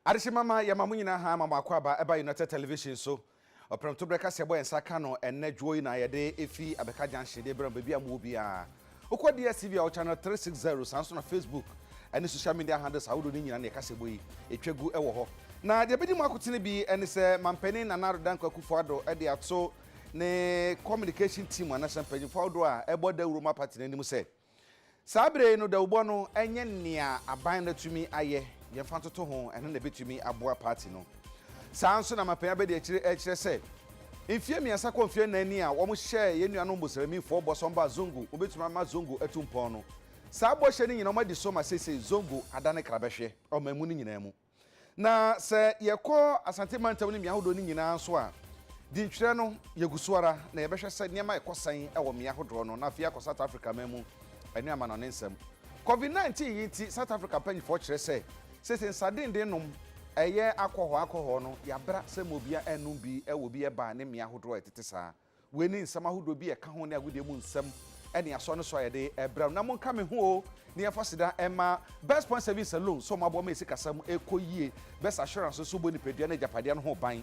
Adehye mama yɛma mo nyinaa ha ama mo akwaaba ɛba United Television so. Ɔprɛmtoberɛ kaseɛ bɔ yɛn nsa ka no ɛnnɛ dwoɔ yi na yɛde ɛfiri Abeka Junction de brɛ mo baabi a mowɔ biara. Wokɔ DSTV a wɔ channel three six zero, saa nso na Facebook ne social media handles ahodoɔ no nyinaa na yɛ kasɛbɔ yi ɛtwa gu wɔ hɔ. Na deɛ ɛbɛdi mu akotene bi ne sɛ Mampanin Nana Addo Dankwa Akufo Addo de ato ne communication team anaasɛ mpanyinfoɔ ahodoɔ a ɛbɔ dawuro ma party no anim sɛ saa berɛ yi no dawubɔ no nyɛ nea aban no atumi ayɛ yɛmfa ntoto ho, ɛno na ɛbɛtumi aboa party no. Saa ara nso na Mapen Abadiakyire rekyerɛ sɛ mfeɛ mmiɛnsa kɔ mfeɛ nnan ni a wɔhyɛɛ yɛn nuanom Moslemifɔɔ bɔ sɛ wɔmba Zongo, wɔbɛtumi ama Zongo atu mpɔn no. Saa bɔhyɛ no nyinaa wɔadi so ma seesei Zongo adane krabɛhweɛ ɔmanmu no nyinaa mu. Na sɛ yɛkɔ Asante Mantam no mmea ahodoɔ no nyinaa nso a, dintwerɛ no yɛgu so ara na yɛbɛhwɛ sɛ nneɛma rekɔ sɛn wɔ mmea ahodoɔ no. Na afei akɔ South Africa amanmu ne amanɔne nsɛm. Covid 19 yi nti South Africa mpanyinfoɔ kyerɛ sɛ Sese nsadennden nom ɛyɛ akɔhɔ akɔhɔ no yabra sɛ ma obia ɛnnom bi ɛwɔ bi ɛbaa ne mmea ahodoɔ a ɛtete saa. Wei ne nsɛm ahodoɔ bi a ɛka ho ne agudeɛ mu nsɛm ɛne asɔ ne sɔ a yɛde ɛbrɛ no. Na monka me ho oo ne yɛnfa seda ɛma Best Point Saving Saloon sɛ ɔmo aboa ma yɛ sikasɛm ɛkɔ yie, Best Assurance nso bɔ nipadua ne agyapadeɛ no ho ban,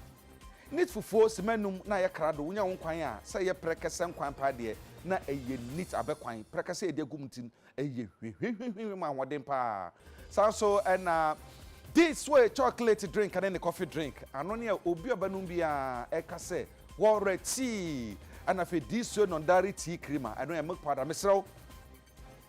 Neat Fufuo sima num na ayɛ krado wonya wo nkwan a sɛ ɛyɛ prɛkɛsɛ nkwan paa deɛ na ɛyɛ neat abɛ kwan prɛkɛsɛ a yɛde agu mu nti Ɛyɛ hwihwihwihwi ma ahoɔden paa. Saa ara nso na this way chocolate drink ne ne coffee drink ano ne a obi a ɔbɛnom biara ka sɛ wɔwerɛ tii. Ɛna afei this way nɔndare tea cream a ɛno yɛ milk powder. Mesrɛ wo,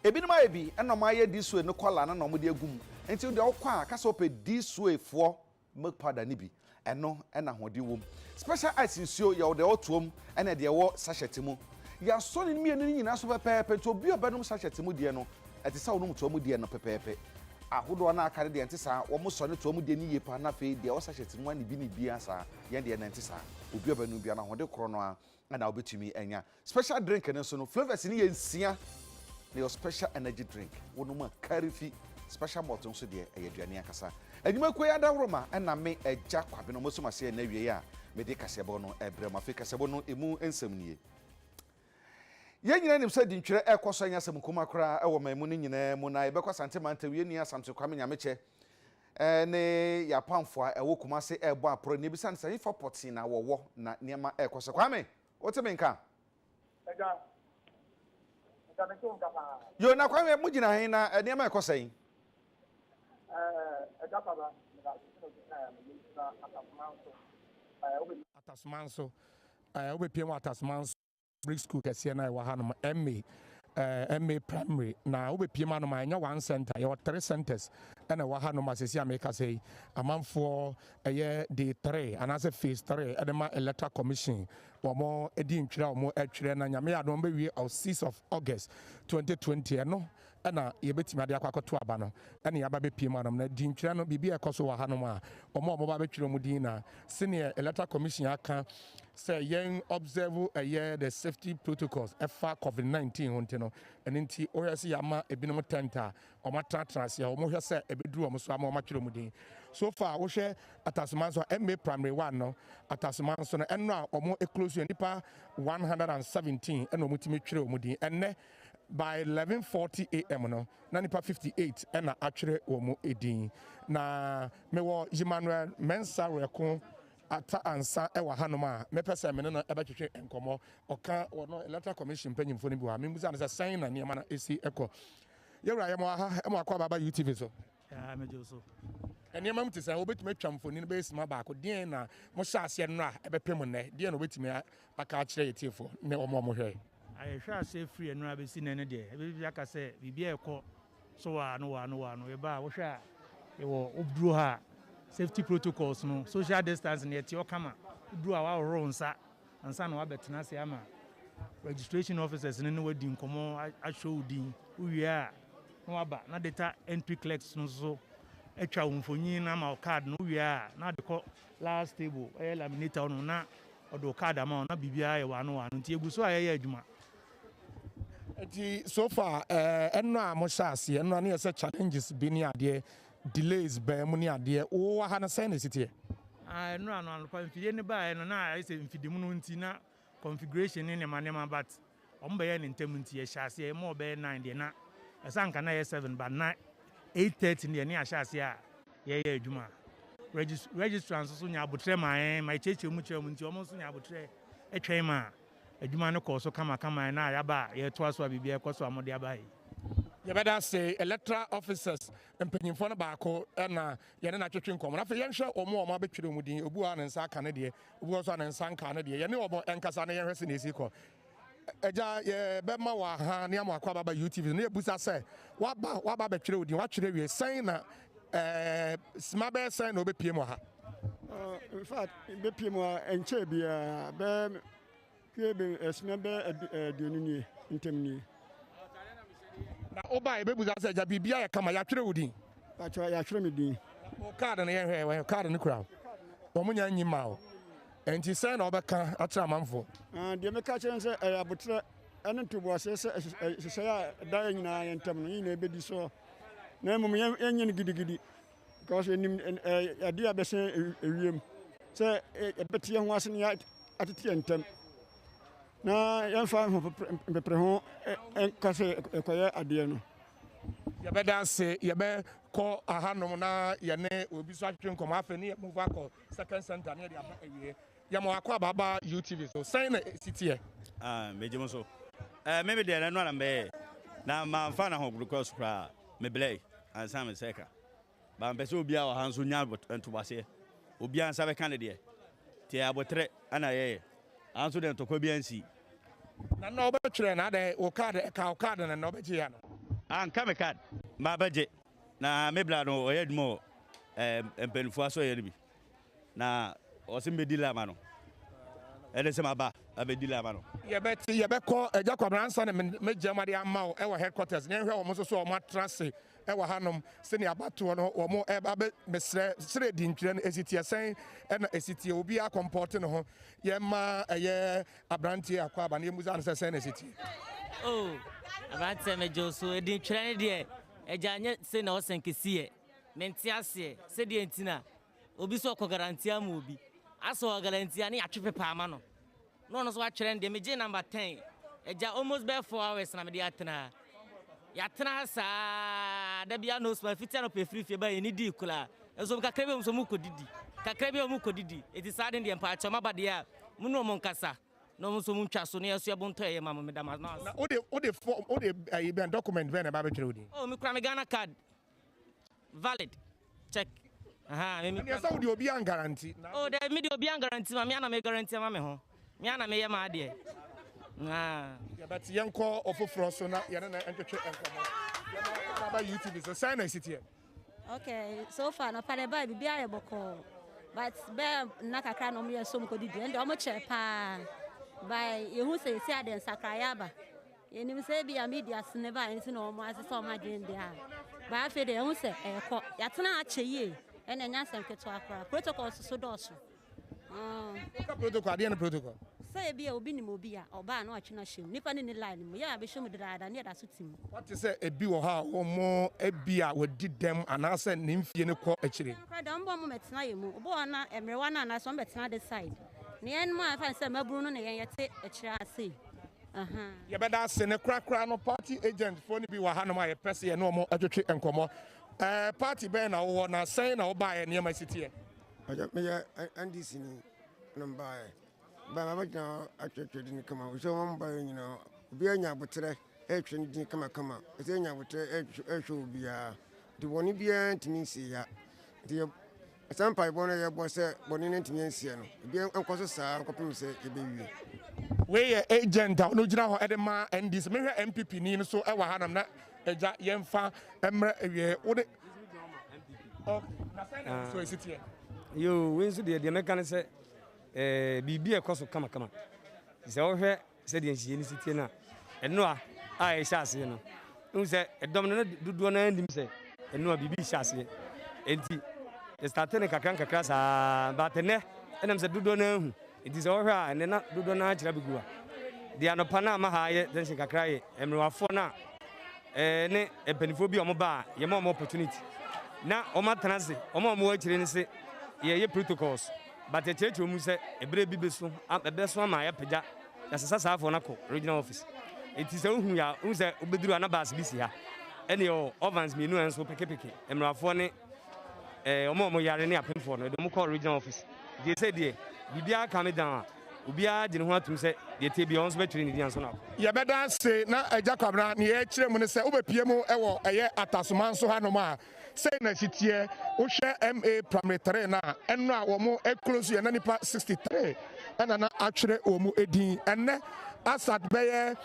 ebinom ayɛ bi na wɔayɛ this way no kɔla no na wɔde agu mu. Nti wo deɛ wokɔ a ka sɛ wopɛ this way foɔ milk powder no bi, ɛno na ahoɔden wom. Special ice nsuo, yɛ wo deɛ ɔtoɔ mu ne deɛ ɛwɔ sachet mu. Yɛasɔ ne mmienu no nyinaa so pɛpɛɛpɛ nti obi a ɔbɛnom sachet mu deɛ no, ɛte sɛ wonom toa mu deɛ no pɛpɛɛpɛ. Ahodoɔ no a aka no deɛ ɛnte saa, wɔsɔ ne toa mu deɛ no yie pa ara na afei deɛ ɛwɔ sachet mu ara ne bi ne bi ara saa, yɛn deɛ no ɛnte saa. Obi a ɔbɛnom biara no, ahoɔden korɔ no ara ɛna wobɛtumi anya special drink no nso no flavours no yɛ nsia na yɛ special energy drink wonom a kari fi special malt nso deɛ ɛyɛ aduane ankasa anwumakuo yi adaworoma ɛna me agya kwabe no mosum aseɛ na awie a mede kaseɛbɔ no ɛbrɛ mu afei kaseɛbɔ no ɛmu nsɛm nie yɛn nyinaa nim sɛ dintwerɛ ɛkɔ so ɛnyɛ asɛm nkuma koraa ɛwɔ man mu no nyinaa mu na yɛbɛkɔ asante mantawie ni asamte kwame nyamekyɛ ne Japanfo a ɛwɔ Kumasi rebɔ aporo na ebisa no sɛ hefa pɔtee na wɔwɔ na nneɛma rekɔ so. Kwame, wote me nka? Agya, agya mete wo nka paa. Yo, na Kwame, mogyina he na nneɛma rekɔ sɛn? Ɛɛ, agya Kwaba, meda ase sɛ wobisaa me. Megyina Atasoman so. Ɛɛ, wobɛpie. Atasoman so. Ɛɛ, wobɛpie wɔ Atasoman so. Brick School kɛseɛ no a ɛwɔ hanom, MA, eh, MA Primary, na wobɛpiem anom a ɛnyɛ one center, yɛwɔ three centers ɛna ɛwɔ hanom a sɛsi a meka sɛ yi, amanfoɔ ɛyɛ day three anaasɛ phase three ɛde ma Electoral Commission wɔn ɛdi ntwerɛ a wɔn ɛtwerɛ na nyame yɛ adom bɛwie ɔ six of August 2020 ɛno na yɛbɛtumi ade akɔ akɔto aba no ne yɛaba abɛpue mu anom. Na dintwerɛ no, biribi a ɛkɔ so wɔ hanom a, wɔn a wɔba abɛtwerɛ wɔn din na sɛdeɛ Electoral Commission aka sɛ yɛn observe ɛyɛ the safety protocols ɛfa Covid 19 ho nti no, ɛno nti wohwɛ sɛ yɛama ebinom tent a wɔatenatena ase a wɔhwɛ sɛ ɛbɛduru wɔn so ama wɔatwerɛ wɔn din. So far wohwɛ Atasoma nso a, MA Primary One no, Atasoma nso no, ɛnnora a wɔclose yɛ, nnipa 117 na wɔtumi twerɛɛ wɔn din. Ɛnnɛ. By eleven forty AM no, na nnipa fifty eight na atwerɛ wɔn mu din. Na mewɔ Ymanuel Mensah Reko Atta Ansah wɔ hanom a mɛpɛ sɛ me ne no bɛtwetwe nkɔmmɔ. Ɔka ɔno Electoral Commission mpanyimfoɔ no bi wɔ ha. Membisa no sɛ sɛn na nneɛma no si kɔ. Yɛn wura, yɛma wo aha, yɛma wo akɔ aba aba UTV so. Yaa me gye so. Nneɛma mu te sɛ wobɛtumi atwa mfonini bɛyɛ sima baako deɛn na mohyɛ aseɛ nnora a ɛbɛpem nnɛ deɛn na wobɛtumi aka akyerɛ yɛ tiefoɔ ne wɔn a wɔhwɛ ayɛhwɛ aseɛ firi nnora bɛsi nnɛ no deɛ ɛbɛbi aka sɛ biribi a ɛkɔ so wɔ ano wɔ ano wɔ ano yɛba a wohwɛ a yɛwɔ woduro ha safety protocols no social distance no yɛteɛ ɔkama woduro a wahohoro nsa ansa na woabɛtena ase ama registration officers no ne woadi nkɔmmɔ ahwɛ wo din wowie a na waba na data entry clerks no so atwa wo mfonyin na ama wo card no wowie a na ade kɔ last table ɛyɛ laminator no na ɔde wo card ama wo na biribiara yɛ waano waano nti egu so a yɛyɛ adwuma nti so far eh, ɛno a mohyɛ aseɛ ɛno a ne yɛ sɛ challenges bi ne adeɛ Delays baa mu ne adeɛ. Wo wɔ ha no sɛn na ɛsi teɛ? Ah nnura no anɔpa mfidie no baeɛ no na ayɛ sɛ mfidimuno nti na configuration ne nneɛma nneɛma but wɔn bɛyɛ no ntɛm nti ɛhyɛ aseɛ ɛma ɔbɛyɛ nine deɛ na ɛsɛ anka na ɛyɛ seven but na eight thirty deɛ ne ahyɛ aseɛ a yɛyɛ adwuma regis registrar nso so nya abotrɛ ma yɛn ma ɛkyerɛkyerɛ mu kyerɛ mu nti wɔn nso nya abotrɛ ɛtwɛn ma Adwuma no kɔɔ so kamakama ɛna a yɛaba a yɛretoa so a biribiara rekɔ so a mode aba he. Yɛbɛda ase Electoral Officers mpanyimfoɔ no baako na yɛne no atwetwe nkɔmmɔ no. Afei yɛnhwɛ wɔn a wɔabɛtwerɛ wɔn din. Obi wɔ hɔ a ne nsa aka ne deɛ, obi wɔ hɔ nso a ne nsa nkaa ne deɛ. Yɛne wɔn nkasa na yɛnhwɛ sɛnea ɛsi rekɔ. Agya, yɛbɛma wo aha ne ama wakɔ ababa UTV so na yɛbisa sɛ, woaba, woaba abɛtwerɛ wo din, woatwerɛ awie, sɛn na Ɛɛ sima bɛyɛ sɛn na ɔbɛpie mu ha? Uh, in fact, bɛpie mu a ɛnkyɛɛ biara bɛɛ kue bɛ ɛsima bɛɛ aduonu nie ntɛm nie. Na woba yɛbɛbusa sɛ agya biribia yɛ kama yɛatwerɛ wo din? Atwerɛ yɛatwerɛ me din. O kaade no yɛhwɛ wɔ kaade no kura o. Wɔn nyɛ nyi ma o. Nti sɛn na wɔbɛka akyerɛ amanfoɔ? Uh, deɛ mɛka kyerɛ sɛ ɛyɛ abotrɛ ɛne ntoboaseɛ sɛ ɛhyehyɛ a ɛda yɛ nyinaa yɛ ntɛm no yɛ nyinaa ɛbɛdi soɔ. na mmom yɛnyɛ no gidigidi because yɛnim adeɛ a bɛsɛn ewiem sɛ yɛbɛte yɛn ho ase ne atete yɛn ntam na yɛmfa mpepere ho nka sɛ ɛkɔyɛ adeɛ no yɛbɛda ase yɛbɛkɔ ahanom na yɛne obi so atwetwe nkɔmmɔ afei ne yɛmove akɔ second center ne yɛde aba awie Yɛ ma wakɔ aba ba you TV so sɛn na esi teɛ. Ah me gye mo so eh me me deɛ ɛno ara mbɛyɛ na ma nfa na ho gudukɔ so koraa me blɛɛ ansa me sɛ ka ba mpɛ sɛ obiara wɔ ha nso nya ntobaseɛ obiara nsa bɛka ne deɛ te abotrɛ ana yɛyɛ anso deɛ ntɔkwa bi ansi. Na na ɔbɛtwerɛ na adɛn wo card ka wo card na na ɔbɛgye ya no. Ah nka me card ma bɛgye na me bla no ɔyɛ adwuma wɔ eh mpanyinfoɔ asɔyɛ no bi. Na ɔse mɛdi la ama no. Ɛne sɛ maba abɛdi la ama no. Yɛbɛte, yɛbɛkɔ Agya Kwabena ansa na mɛgya mu adeɛ ama wo wɔ headquarters. Na yɛnhwɛ wɔn nso so a wɔn atra ase wɔ hanom sɛdeɛ abatoɔ no wɔn reba abɛ, mesrɛ, serɛ di ntwerɛ no ɛsi teɛ sɛn na ɛsi teɛ. Obiara kɔmpɔɔte ne ho. Yɛmma ɛyɛ abranteɛ Akwaaba no yɛmmusa no sɛ sɛn na ɛsi teɛ. Oh abranteɛ megye wo so, di ntwerɛ no deɛ Agya nyɛ sei na ɔsɛn kɛsi yɛ. Mente aseɛ sɛdeɛ nti na Obi so ɔkɔ guarantee ama obi. Asɛ ɔwɔ guarantee a ne yɛatwe paper ama no na ɔno nso watwerɛ ne deɛ. Megyee number ten. Agya, almost bɛyɛ four hours na mede atena ha. Yɛatena ha saa ara, da biara no smile, fiti anɔpa ɛfiri fie baeɛ yɛnni dii koraa. Nso wɔn kakra bi a wɔn nso wɔkɔdidi. Kakra bi a wɔkɔdidi. Enti saa de deɛ mpaakyɛw moaba deɛ a, mo ne wɔn nkasa na wɔn nso wɔntwa so na yɛasoa bontɔeɛ ma mo. Meda mo ase. Na wode, wode form, wode ɛyi bɛn, document bɛn na ɛba abɛtwerɛ wo din? Oh, mekura me Ghana card. valid check ahaa me ɛneɛ sɛ wode obi angaranti o dɛ mede obi angaranti ma mea na me garanti ama me ho mea na meyɛ ma adeɛ yɛbɛte yɛnkɔ ɔfoforɔ so na yɛne na ɛntwetwe nkɔmmɔ yɛbɛba youtube so sɛn na ɛsiteɛ okay so far no pade baa biribi ayɛ bɔkɔɔ but bɛɛ nna kakra na ɔmoyɛ som kɔdidi ɛnde ɔmo kyerɛ paa by yɛhu sɛ yɛsi adeɛ nsakraeɛ aba Yɛnim sɛ ebia media so ne bae nti na wɔn asesa wɔn adwene de a, but afei de yɛhu sɛ ɛrekɔ. Yɛatena ha akyɛ yie, ɛnna ɛnyɛ asɛm ketewa koraa. Protocols nso dɔɔso. Woka protocol a, deɛ ne protocol? Sɛ ebia obi nim obi a, ɔba a na watwe no ahyɛ mu. Nnipa no nni line mu. Yɛ a bɛhyɛ mu dedaada ne yɛda so te mu. Woate sɛ ebi wɔ hɔ a wɔn ebia wɔadi dɛm anaasɛ ne mfeɛ no kɔ akyire. Ɛno koraa deɛ, wɔbɔ wɔn mmɛtena yɛn mu. Obi wɔ hɔ na mmerewa no anaasɛ wɔbɛtena this side. Na yɛn mu a yɛmfa no sɛ mmabunu no ne yɛn yɛte akyire ha sei. Yɛbɛda ase ne korakora no party agent foɔ no bi wɔ hanom a yɛpɛ sɛ yɛne wɔn twetwe nkɔmmɔ. Ɛɛ party bɛn na wowɔ na sɛn na wobaeɛ nneɛma si teɛ? Mpakyɛ meyɛ NDC ni na mbaeɛ. Baeɛ mabɛgyina hɔ atwetwe din kama wɔ sɛ wɔn baeɛ nyinaa obiara nya aboterɛ ɛretwe ne din kama kama ɛsɛ yɛnya aboterɛ ɛrehwɛ obiara nti bɔne biara ntumi nsi ha nti Saa mpaebɔ no a yɛbɔ sɛ bɔne no antumi ansie no, ebi nkɔ so saa ara kɔpem sɛ yɛbɛwie. Wei yɛ agent a ɔno gyina hɔ de ma NDC. Mehwɛ NPP ni nso wɔ ha nam na agya yɛn fa mmerɛ awie. Wo de. Na sɛ na nso esi teɛ. Yoo, wei nso deɛ deɛ mɛka ne sɛ ɛɛ biribi ɛkɔ so kamakama. Sɛ wohwɛ Sɛdeɛ nhyehyɛeɛ no si teɛ no a, ɛno a a ɛhyɛ aseɛ no, wohu sɛ ɛdɔm no na dodoɔ no ara nim sɛ ɛno a biribi rehyɛ aseɛ. Enti yɛstate no kakra nkakra saa, but ɛnɛ ɛnam sɛ dodoɔ no ara hu. Enti sɛ wɔhwɛ a ɛnɛ na dodoɔ no ara kyerɛ abɛgu a. Deɛ anɔpa no ama ha yɛ tension kakra yɛ mmerewafoɔ no a ɛɛ ne mpanimfoɔ bi a wɔba a yɛma wɔn opportunity na wɔatena ase. Wɔn a wɔwɔ akyire no se yɛyɛ protocols. But yɛkyerɛkyerɛ wɔn sɛ ɛberɛ bi bɛso ɛbɛso ama yɛapagya yɛasɛ sɛ saa afoɔ no akɔ regional office nti sɛ wohu yɛ a wohu sɛ wobɛduru a na bus bi si ha ɛne yɛwɔ ovans mmienu a nso pekepeke mmarafoɔ ne eh, wɔn a wɔn yare ne apemfoɔ no ɛde wɔn kɔ regional office nti sɛ deɛ biribiara ka me dan a obiara gye ne ho atom sɛ deɛ tie biara wɔn nso bɛtwerɛ ne din ansa na akɔ. Yɛbɛda ase na Agya Kwabena ne yɛkyerɛ mu ne sɛ wobɛpie mu wɔ ɛyɛ Atasomanso hanom a Sei na ɛsi teɛ, wohwɛ MA Primary Three no a, ɛno a wɔn close yɛ na nipa sixty three ɛna na atwerɛ wɔn din. Ɛnnɛ as at bɛyɛ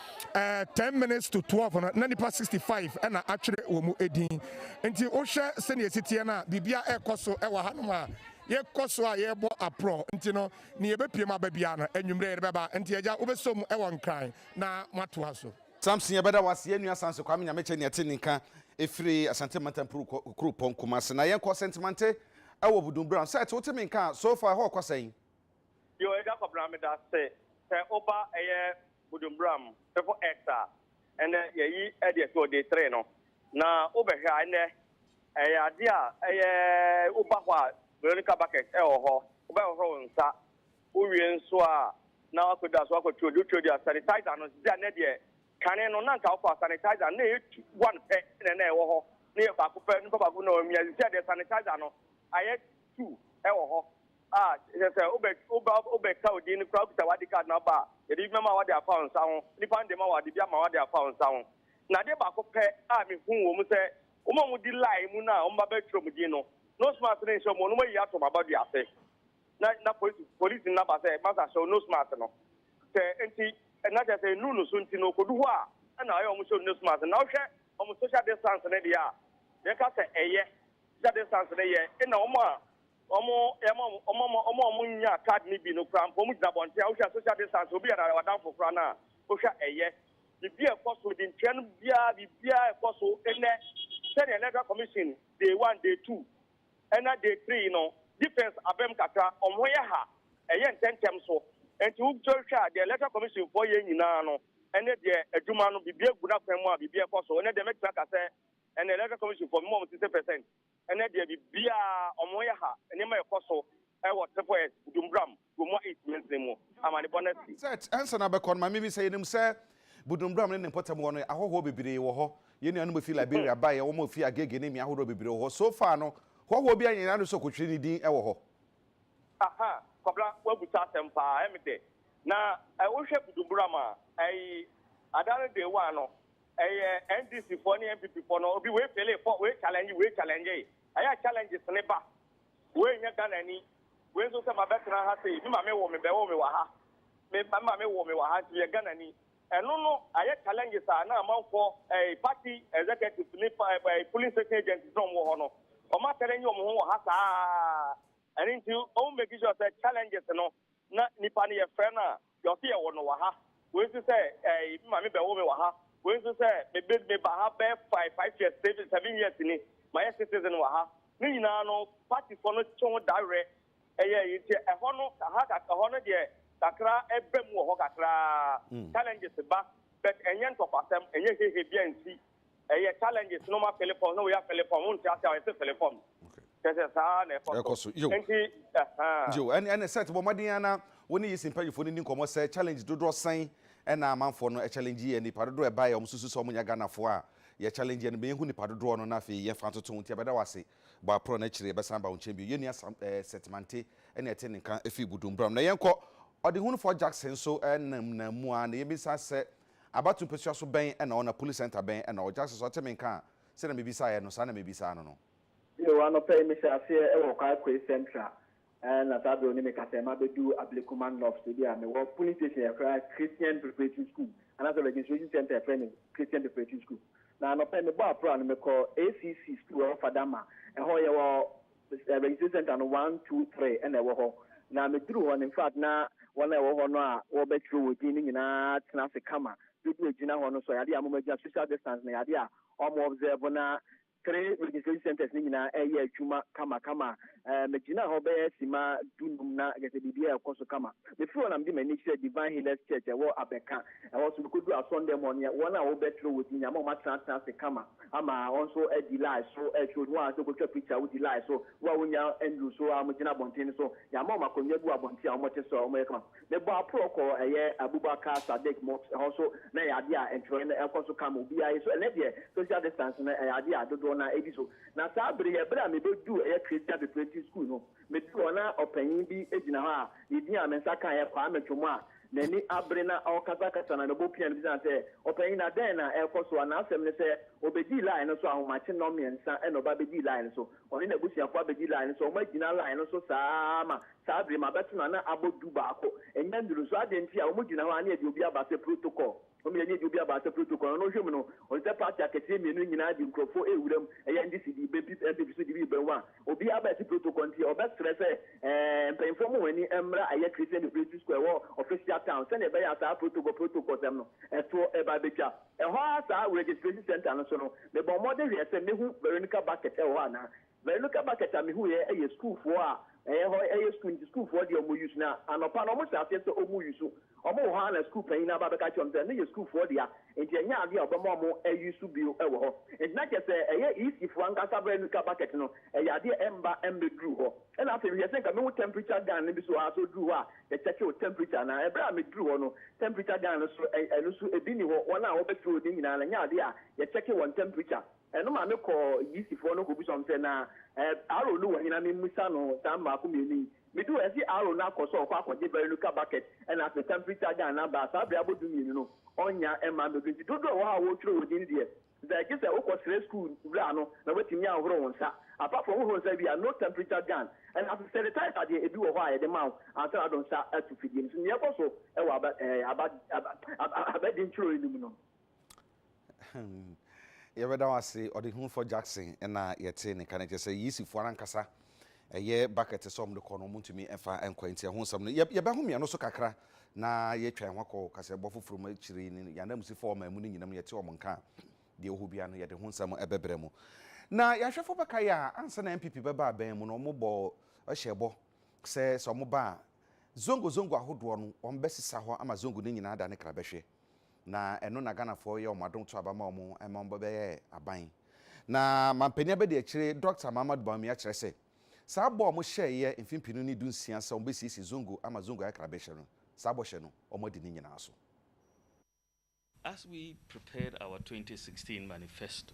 ten minutes to twelve no, na nipa sixty five ɛna atwerɛ wɔn din. Nti wohwɛ sɛnea ɛsi teɛ no a, biribiara ɛrekɔ so wɔ ha nom a yɛkɔ so a yɛrebɔ aprɔ. Nti no, nea ɛbɛpue mu aba biara no, anwummerɛ yɛde bɛba. Nti Agya, wobɛsɔ mu wɔ Nkran na moatoa so. Samson yɛbɛda wo ase yɛn nua Samson Kwame Nyamekyɛ nea ɛte ne nka ɛfiri Asante Mantam Kuropɔn Kumase na yɛnkɔ Sɛntimante ɛwɔ Budunbram Sɛt wote me nka a so far ɛhɔ rekɔ sɛn? Yo Agya Kwabena meda ase sɛ woba ɛyɛ Budunbram fefo X a ɛnɛ yɛyi ɛdeɛ so day three no na wobɛhwɛ a ɛnɛ ɛyɛ adeɛ a ɛyɛ woba hɔ a Veronica Bucket ɛwɔ hɔ wobɛhohoro wo nsa Wowie nso a, na wakɔda so akɔtwerɛ deɛ wotwerɛ deɛ a, sanitizer no nso. Sɛ ɛnnɛ deɛ, kane no na anka wokɔ a, sanitizer no na ɛyɛ tu, one pɛ na na ɛwɔ hɔ, na ɛyɛ baako pɛ, nipa baako na wamia. Seesei deɛ, sanitizer no ayɛ tu wɔ hɔ a, kyerɛ sɛ wobɛ, woba, wobɛka wo din no koraa, wokita wo ID card no aba a, yɛde bi bɛma wo de afa wo nsa ho, nipa no de ma wo a, ɔde bi ama wo de afa wo nsa ho. Na adeɛ baako pɛ a mehuu wɔ mu sɛ, wɔn a wɔdi line mu no a wɔba bɛtwerɛ wɔn din no, nose mask no nhyɛ wɔn, na wɔayi ato wɔn abadua ase. na na polisi polisi no aba sɛ masa hyɛ nose mask no sɛ nti na kyerɛ sɛ nnuru no so nti no okodu hɔ a ɛna ayɛ wɔn hyɛ nose mask na ɔhwɛ wɔn social distance no deɛ a deɛ ɛka sɛ ɛyɛ social distance no yɛ ɛna wɔn a wɔn ɛma wɔn wɔn wɔn a wɔn nya card no bi no kura mpo wɔn gyina abɔnten a wohwɛ social distance obi yɛ ɔdanfo kura no a wohwɛ ɛyɛ biribi a ɛkɔ so de ntua no biara biribi a ɛkɔ so ɛnɛ sɛdeɛ electoral commission day one day two ɛna day three yi no defence abam kakra wɔn ho yɛ ha ɛyɛ ntɛntɛm so nti wo sɔre hwɛ a deɛ electoral commission foɔ yɛ nyinaa no ɛne deɛ adwuma no biribi agu n'akwan mu a biribi ɛkɔ so ɛnɛ deɛ mɛtumi aka sɛ ɛnɛ electoral commission foɔ mema wɔn sixty percent ɛnɛ deɛ biribiara wɔn ho yɛ ha nneɛma ɛkɔ so ɛwɔ triple s dumbram Gomua East mansini mu amanebɔ no asi. Seth, Ansa na bɛkɔ no, Maame bi sɛ, Yenim sɛ Budumbram ne ne mpɔtam hɔ no, ahɔhoɔ bebree wɔ hɔ. Yɛn nuanom a wɔfiri Liberia baeɛ, wɔn a wɔfiri Agege ne mmea ahodoɔ bebree wɔ hɔ. So far no, hɔhoɔ biara nyɛ n'ano sɛ ɔkɔtwiri ne din wɔ hɔ? Aha, Kwabena, woabisa asɛm pa ara. Ɛm de, na wohwɛ Budumbram a, ɛyi, ada no day one no, ɛyɛ NDC foɔ ne NPP foɔ no, obi wei failee, fɔ, wei challenge, wei challenge-e. Ɛyɛ a challenges no ba. Wei nyɛ Ghana ni. Wei nso sɛ mabɛtena ha sei, me maame woo me, bɛwoo me wɔ ha. Me me maame woo me wɔ ha nti meyɛ Ghanani. Ɛno no ayɛ challenges a na amanfoɔ, ɛɛ party executives ne pa ɛɛ polling station agents na wɔwɔ hɔ no, wɔakyɛlɛngye wɔn ho wɔ ha saa ara. Ɛno nti wɔn making sure sɛ challenges no na nipa no yɛfrɛ no a, Deɛ ɔse yɛwɔ no wɔ ha, wei nso sɛ ɛɛi me maame bɛwo me wɔ ha, wei nso sɛ me be me ba ha bɛyɛ five five years seven seven years ni, mayɛ citizen wɔ ha. Ne nyinaa no party foɔ no kye ho da werɛ ɛyɛ ɛyi nti ɛhɔ no aha ka ɛhɔ no deɛ kakra ɛba mu wɔ hɔ kakra ara challenges ba but ɛnyɛ ntɔkwasɛm ɛnyɛ hehe biara nsi ɛyɛ challenges no ma philipon no woyɛ philipon wo nti ase a yɛsɛ philipon kyɛ sɛ saa na ɛkɔ so nti ɛne sɛ tebɔ mmɔden ana wo ne yɛsi mpanyinfoɔ no ni nkɔmmɔ sɛ challenge dodoɔ sɛn ɛna amanfoɔ no challenge yɛ nipa dodoɔ ɛbaeɛ wɔn susu sɛ wɔn nyɛ Ghanafoɔ a yɛ challenge yɛ no bɛyɛ hu nipa dodoɔ no na afei yɛn fa ntoto nti ɛbɛda wɔ ase bɔ aporɔ no akyire ɛbɛsan ba wo nkyɛn bio yɛn nua sam ɛɛ sɛtimante ɛne ɛte ne nka ɛfiri budum bram na yɛn kɔ ɔdehunufoɔ Jackson nso ɛnam na mu a na yɛn bi nsa sɛ Abatow mpasua so bɛn na ɔwɔ na Police Centre bɛn na ɔwɔ Jackson so ɔte me nka a sɛnea mibisaeɛ no saa na mebisaa no no. Bio, anɔpa yi mehyɛɛ aseɛ wɔ Kwaekwei Central na saa berɛ no mekasɛɛ mabɛdu Ablekuma North baabi a mewɔ Polling Station yɛfrɛ Christian Preparatory School anaasɛ Registration Centre yɛfrɛ no Christian Preparatory School na anɔpa yi mebɔɔ aprɔa no mekɔɔ ACC School ɛwɔ Fadama ɛhɔ yɛwɔ Registration centre no one, two, three na ɛwɔ hɔ. Na meduru hɔ no infact na wɔn a ɛwɔ hɔ no a wɔbɛkyerɛw wɔn din no nyinaa tena ase kama. Bere bi a egyina hɔ no, sɛ ɔyɛ ade a wɔagyina social distance no yɛ ade a wɔn observe na three registration centres no nyinaa ɛreyɛ adwuma kamakama. Ɛɛ megyina hɔ bɛyɛ sima dunum na kyerɛ sɛ biribiara ɛkɔ so kama. Mefiri hɔ na mede m'ani kyerɛ Divine Healers Church ɛwɔ Abɛka. Ɛhɔ nso mekodu asɔndɛm hɔ no yɛ wɔn a wɔbɛkyerɛw wɔn din nyinaa ama wɔatena atena ase kama. ama ɔno nso adi line so ɛtwerɛ onim a sɛ ɔkɔtwa picture a wodi line so wo a wonya ɛnduru so a mogyina abɔnten no so yɛama wɔn akonnwa bi wɔ abɔnten a wɔte so a wɔyɛ kama mebɔ aporɔ kɔ ɛyɛ Abubakar Sadiq Mosque hɔ so na ɛyɛ adeɛ a ntwerɛeɛ no ɛkɔ so kama obiara yi so ɛnɛ deɛ social distance no ɛyɛ adeɛ a dodoɔ no ara ɛdi so na saa bere yɛ bere a mebɛduu ɛyɛ Christian Preparatory School no meduru hɔ na ɔpanyin bi gyina hɔ a ne din a me nsa kaeɛ Kwame Twum a N'ani abere na ɔrekasakasa na ne bo pia no bisaa no sɛ, Ɔpanyin, na dɛn na ɛrekɔ so? An'asɛm ne sɛ, Obedii line no so ahomakye nnɔnmiɛnsa na ɔba bedii line no so. Ɔne n'abusuafo abedi line no so. Wɔagyina line no so saa ara ma saa bere yi mabɛto no a na abɔ du baako. Ɛnyɛ nnuru nso. Adɛn ntia? Wɔgyina hɔ a na yɛde obi aba sɛ protocol. Ɔno yɛ nyiedie bi a baasa pire to kwan. Ɔno hwɛ mu no, ɔte sɛ party akɛseɛ mmienu no nyinaa de nkurɔfoɔ rewura mu. Ɛyɛ NDC de bɛ pip, NPP nso de bi rebɛ ho a, obiara ba ɛte protocol nti, ɔbɛsrɛ sɛ ɛɛ mpanyinfoɔ mo wɔn ani mmra ɛyɛ Christian Liberation Square ɛwɔ official town sɛdeɛ ɛbɛyɛ a saa protocol protocol sɛm no ɛtoɔ ɛba abɛtwa. Ɛhɔ ara saa registration centre no so no, mebɔɔ mmɔden hwɛɛ sɛ mɛhu Veronica Bucket ɛwɔ hɔ anaa. Veronica Bucket a mehuuɛ yɛ sukuufoɔ a ɛyɛ hɔ ɛyɛ sukuu nti sukuufoɔ deɛ ɔmo use na anɔpa no ɔmo hyɛ aseɛ sɛ ɔmo use ɔmo wɔ hɔ ara na sukuu panyin no aba abɛka akyerɛ ɔmo sɛ ɛno yɛ sukuufoɔ dea nti ɛnyɛ adeɛ a ɔbɛma ɔmo use bio wɔ hɔ nti na kyerɛ sɛ ɛyɛ EC foɔ ankasa Veronica Bucket no ɛyɛ adeɛ ɛmba ɛmbɛduru hɔ ɛna afei mehwɛ sɛ nka mehu temperature gun no bi so aa sɛ ɔduru hɔ a yɛkyɛke wo temperature na ɛberɛ a meduru hɔ no temperature gun no so ɛno so ɛbi nni hɔ wɔn a wɔbɛkyerɛ odin nyinaa no ɛnyɛ adeɛ a yɛkyɛke wɔn temperature Ɛno ma mekɔɔ Gypsyfoɔ no kɔbisa wɔn sɛ, Na Aaron no wɔ he na memmisa no saa mmaako mmienu yi? Meduu hɔ a, ɛse Aaron no akɔ sɛ ɔrekɔ akɔgye Veruca Bucket na afei Temporary Charger and Number a saa berɛ abɔ du-mmienu no, ɔnnya mma mmɛduru. Nti dodoɔ a ɛwɔ hɔ a wɔretwerɛ wɔn din deɛ, sɛ ɛgye sɛ wokɔsrɛ sukuu wura no na watumi ahoro wo nsa. Apart from wohoro nsa wie a, no temperature gun. Ɛna afei sanitizer deɛ, ebi wɔ hɔ a yɛde ma wo ansa na wode wo nsa ato fidie no so. Nea ɛkɔ so wɔ aba, ɛɛ, aba, aba, aba, abadiakyire no mu no. Yɛbɛda wo ase Ɔdehunufɔ Jackson na yɛtee ne nka no kyerɛ sɛ Yeasifɔ no ankasa ɛyɛ bucket sɛ wɔn de kɔ no wɔn ntumi ɛfa nkɔ nti ɛho nsɛm no yɛ yɛbɛho mia no so kakra na yɛatwa yɛn ho akɔ kaseɛbɔ foforɔ mu akyiri no yɛn ananmusifɔ ɔman mu no nyinam yɛte wɔn nka a deɛ ɔhɔ bia no yɛde ho nsɛm ɛbɛbrɛ mu na yɛn ahwɛfo bɛka yɛ a ansa na NPP bɛba abɛn mu no wɔn bɔ ɛhyɛ bɔ sɛ sɛ wɔn ba a zongo zongo ahodoɔ no wɔn bɛsesa hɔ ama zongo no nyinaa da ne kra bɛhwɛ Na ɛno na Ghanafoɔ yɛ wɔn adom to aba ma wɔn ɛma wɔn bɛyɛ aban. Na Mampanin Abadiakyire Dɔkta Mahamadou Bawumia kyerɛ sɛ, saa bɔ a wɔn hyɛɛeɛ mfe mpenu ne dunsia sɛ wɔn bɛsiesie Zongo ama Zongo ayɛ Krabɛhyɛ no, saa bɔhyɛ no, wɔn adi ne nyinaa so. As we prepared our twenty sixteen manifesto,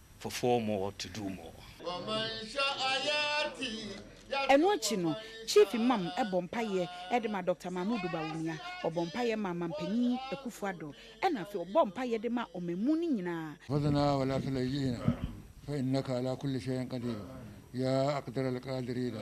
for four more to do more. Ɛno akyi no, Chief Imam bɔ mpaeɛ de ma Dɔkta Mahmood Bawumia, ɔbɔ mpaeɛ ma Manpanin Akuffo Addo, ɛna afei ɔbɔ mpaeɛ de ma ɔmanmu no nyinaa. Fadhna wala tulayyina fa innaka ala kulli shay'in qadiru yaa aqdara alqaadiriina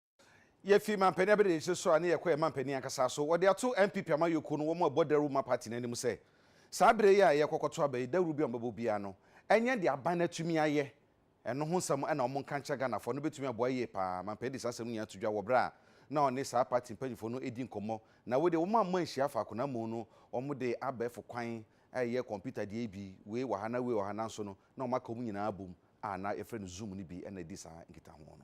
Yɛfi mampanin abɛdadisɛ so a ne yɛkɔ yɛn mampanin ankasa so. Wɔde ato NPP amanyɔkuo no wɔn a ɛbɔ dawuro ma party no anim sɛ, saa berɛ yi a yɛrekɔkɔto aba yi, dawuro bi a wɔbɛbɔ biara no, ɛnyɛ deɛ aban no atumi ayɛ. Ɛno ho nsɛm na wɔnka nkyerɛ Ghanafoɔ. Ɛno bɛtumi aboa yie pa ara. Mampanin de saa asɛm no nyinaa to dwa wɔ berɛ a na ɔne saa party mpanimfoɔ no redi nkɔmmɔ. Na wei deɛ wɔamma anhyia faako na mmom no, wɔde abɛɛfo kwan reyɛ kɔmputa deɛ yi bi, wei wɔ ha na wei wɔ ha. Nanso no, na wɔaka wɔn nyinaa abom a na yɛfrɛ no Zoom no bi na ɛdi saa nkitaho no.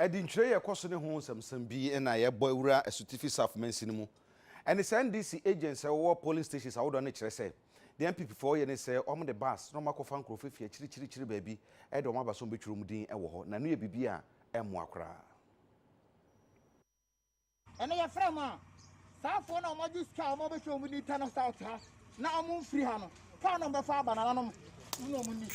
Ɛde ntwire yɛ kɔ so ne ho nsɛmnsɛm bi na yɛbɔ awura asutifi South mansin mu. Ɛne saa NDC agents a ɛwowɔ polling stations ahodoɔ no kyerɛ sɛ deɛ NPP foɔ yɛ ne sɛ wɔn de bus na wɔn akɔfa nkurɔfoɔ afi akyirikyirikyiri baabi de wɔn aba sɛ wɔn bɛtwiri wɔn din wɔ hɔ na ɛno yɛ biribi a ɛmmoa koraa. Ɛno yɛfrɛ wɔn a saa afoɔ no a wɔagye sika a wɔbɛhwɛ wɔn ni tɛ no south ha na wɔmfiri ha no kaa no bɛfa aba nananom mu na wɔnni.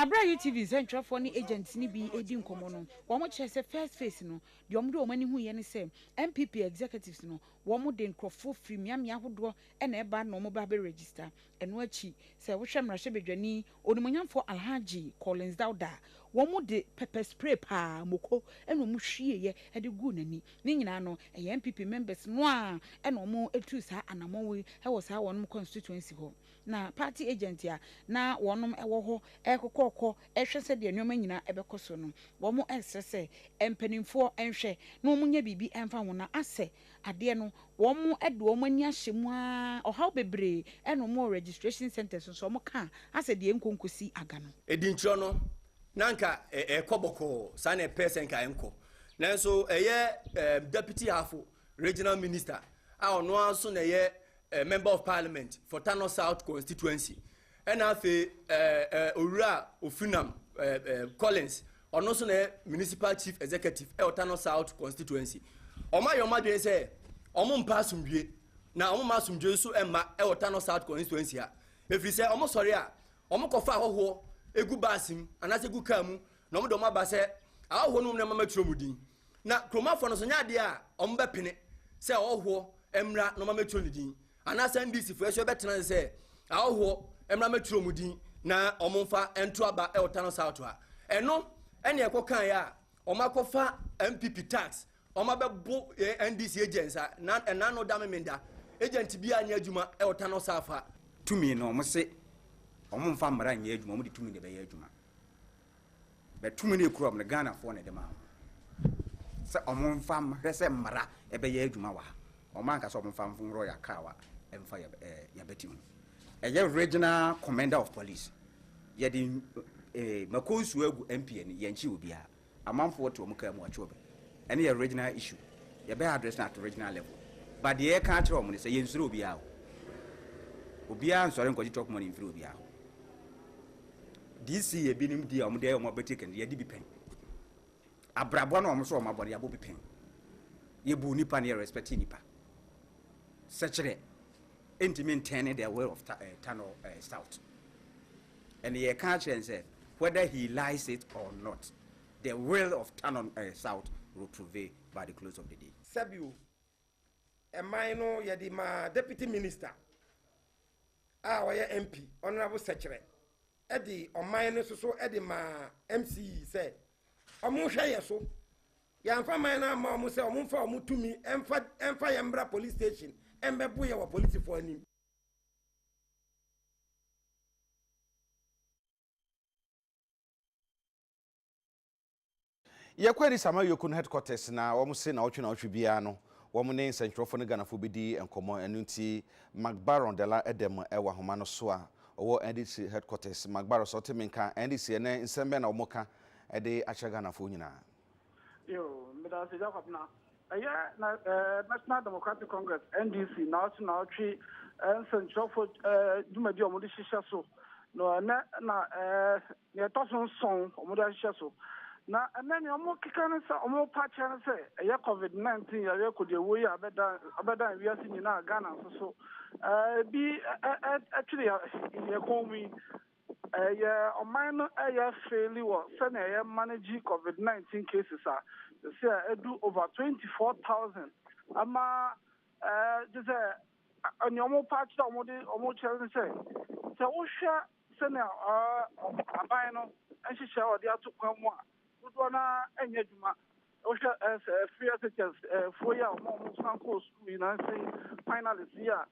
Bere a UTV nsɛntwerɛfoɔ ne agents no bi redi nkɔmmɔ no, wɔkyerɛɛ sɛ first phase no, deɛ wɔde wɔn ani huiɛ ne sɛ NPP executives no, wɔde nkurɔfoɔ firi mmeammea ahodoɔ na ɛba na wɔba abɛregister. Ɛno akyi, sɛ wohwɛ mmarahyɛbadwani Onimuonyamfoɔ Alhaji Collins Dauda, wɔn de pepper spray paa moko na wɔn hwieɛ de guu n'ani. Ne nyinaa no, ɛyɛ NPP members no ara na wɔn tuu saa anamɔn yi wɔ saa wɔn constituency hɔ. Na party agent a na wɔn wɔ hɔ rekokɔɔkɔ rehwɛ sɛdeɛ nneɛma nyinaa ɛbɛkɔ so no, wɔn resrɛ sɛ mpanimfoɔ nhwɛ na wɔn nyɛ biribi mfa ho na asɛ Adeɛ no wɔn de wɔn ani ahyɛ mu ara ɔhaw bebree ɛna wɔn wɔ registration centres no so wɔn ka asɛ deɛ ɛnkɔ nkɔsi aga no. Adinkyerɛ no na anka ɛkɔ bɔkɔɔ saa na ɛpɛɛ sɛ nka ɛnkɔ nanso ɛyɛ Deputy Hafo Regional Minister a ɔno ara nso na ɛyɛ Member of Parliament for Tano South Constituency Ɛna afei ɛɛ owura Ofinam ɛɛ Collins ɔno nso na municipal chief executive ɛwɔ Tano South constituency. Wɔn ayɛ wɔn adwene sɛ wɔn mpa asomdwie na wɔn mma asomdwie nso mma ɛwɔ Tano South constituency ha. Efiri sɛ wɔn sɔre a wɔn kɔfa ahɔhoɔ egu baasi mu anaasɛ egu kaa mu na wɔn de wɔn aba sɛ ahɔhoɔ no wɔn na mama twerɛ wɔn din. Na kuromafoɔ no nso nyɛ adeɛ a wɔn bɛpene sɛ ahɔhoɔ mmra na wɔn amɛtwerɛ ne din. Anaasɛ NDCfoɔ nso bɛtena ase sɛ ahɔhoɔ mmra mmɛtwerɛ wɔn din na wɔmfa nto aba wɔ Tano South ha. Ɛno na ɛkɔkaeɛ a wɔakɔfa NPP tax, wɔabɛbo NDC agents a na ɛna ano da memenda. Agent biara nyɛ adwuma wɔ Tano South ha. Tumi no wɔse wɔmfa mmara nyɛ adwuma, wɔde tumi na ɛbɛyɛ adwuma. But tumi no ekura wɔn no Ghanafoɔ na ɛde maa wɔn sɛ wɔn nfa hwɛ sɛ mmara ɛbɛyɛ adwuma wɔ ha. Wɔn anka sɛ wɔn nfa nforo yɛ akaawa ɛnfa yɛ ɛɛ yɛbɛti ho. Ɛyɛ regional commander of police. Yɛde ɛɛ mako nsuo agu MP ani yɛn kyi obiara. Amanfoɔ te wɔn kaa mu wɔatwe wɔn. Ɛne yɛ regional issue. Yɛbɛ address no at regional level. But deɛ yɛka akyerɛ wɔn no sɛ yɛnsuro obiara o. Obiara nsɔre nkɔgye chop money mfiri obiara hɔ. DC yɛ binom di a wɔn de ayɛ wɔn abati kɛntɛn yɛde bi pɛn abrabɔ na wɔn nso wɔn abɔ de abɔ bi pɛn yɛbu nipa na yɛ respect nipa sɛkyerɛ ntumi ntɛn ne the way of ta, uh, turn or uh, stout and yɛ ka kyerɛ n sɛ whether he lies it or not the will of turn on uh, south will prevail by the close of the day. sɛbi o ɛman no yɛde maa deputy minister a ɔyɛ mp honourable sɛkyerɛ ɛde ɔman no nso so ɛde maa mc sɛ ɔmo hwɛ yɛ so yɛnfa man no ama ɔmo sɛ ɔmo nfa ɔmo tumi ɛnfa ɛnfa yɛn mbra police station ɛnbɛbo yɛ wɔ polisifoɔ anim. Yɛkɔ Addis Ama Yoko no headquarters na wɔn se naɔtwe naɔtwe biara no wɔn ne nsɛntwerɛfoɔ no Ghanafoɔ bɛdi nkɔmmɔ ɛno nti Magbaron Dela ɛdam wɔ ahoma no so a ɔwɔ NDC headquarters Magbaron sɛ ɔte me nka NDC ɛnɛ nsɛm bɛn na wɔn ka de akyerɛ Ghanafoɔ nyinaa? Yoo, medase Gya Kwabena. Ɛyɛ National Democratic Congress, NDC, naawɔtwe naawɔtwe nsɛnkyerɛwfo dwumadi a wɔde hyehyɛ so. Na ɛnɛ na nea ɛtɔ so nson wɔde ahyehyɛ so. Na ɛnɛ nea wɔkeka ne sɛ wɔrepa akyerɛ ne sɛ ɛyɛ COVID-19 yareɛ kodiawuo yi a abɛdan wiase nyinaa Ghana nso so ebi twere yɛn kɔn mu yi. Ɛyɛ ɔman no ɛyɛ feeli wɔ sɛnea yɛ manage covid 19 cases a sɛsi a ɛdu over 24,000 ama gye sɛ nea ɔmo pa akyerɛ a ɔmo de ɔmo kyerɛ ne sɛ sɛ wohwɛ sɛnea aban no nhyehyɛ ɔde ato kwan mu a dodoɔ no ara ɛnyɛ adwuma. Wohwɛ ɛɛ free SHS foɔ yi a wɔn a wɔn san kɔɔ sukuu yi na nsɛn finalist yi a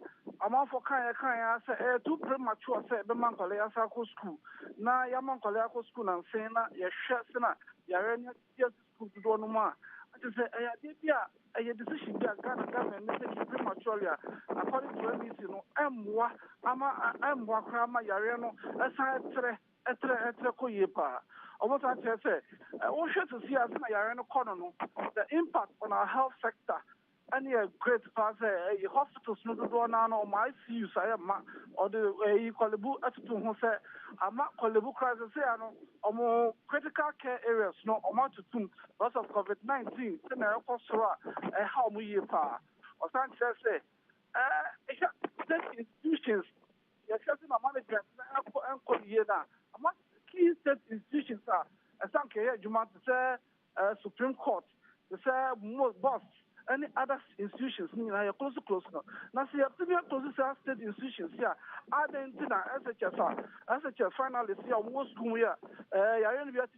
amanfoɔ kaeɛ kaeɛ ara sɛ ɛyɛ too premature sɛ ɛbɛma nkwadaa yi asan akɔ sukuu na yɛama nkwadaa yi akɔ sukuu na nsɛn na yɛhwɛ sɛ na yareɛ no adi asi sukuu dodoɔ no mu a ɛkyɛ sɛ ɛyɛ adeɛ bi a ɛyɛ decision bi a Ghana government ne taking prematurely a according to MEC no ɛmmoa ama ɛmmoa koraa ma yareɛ no ɛsan ɛtrɛ Ɛtrɛ ɛtrɛ kɔ yie paa. Ɔmo san kyerɛ sɛ, wo hwɛ sisi a sɛnea yareɛ no kɔ no no, the impact on our health sector ɛne yɛ great paa sɛ ɛyi hospitals no dodoɔ no ara no ɔmo ICUs ayɛ mma. Ɔde ɛyi Korle Bu ɛtoto ho sɛ ama Korle Bu koraa sisi a no ɔmo critical care areas no ɔmo atutum because of covid 19 sɛnea ɛrekɔ soro a ɛha ɔmo yie paa. Ɔsan kyerɛ sɛ, ɛɛ hwɛ state institutions Yɛhwɛ dze ma management na ɛkɔ ɛnkɔ yie no a, ama key state institutions a ɛsɛ anka ɛyɛ adwuma te sɛ Supreme Court, te sɛ MOST ne other institutions no nyinaa yɛ close close no. Na sɛ yɛtumi aclose saa state institutions yi a, adɛn nti na SHS a, SHS finalists yi a wɔwɔ sukuu mu yi a, ɛɛ yɛayɛ no bi akyɛ.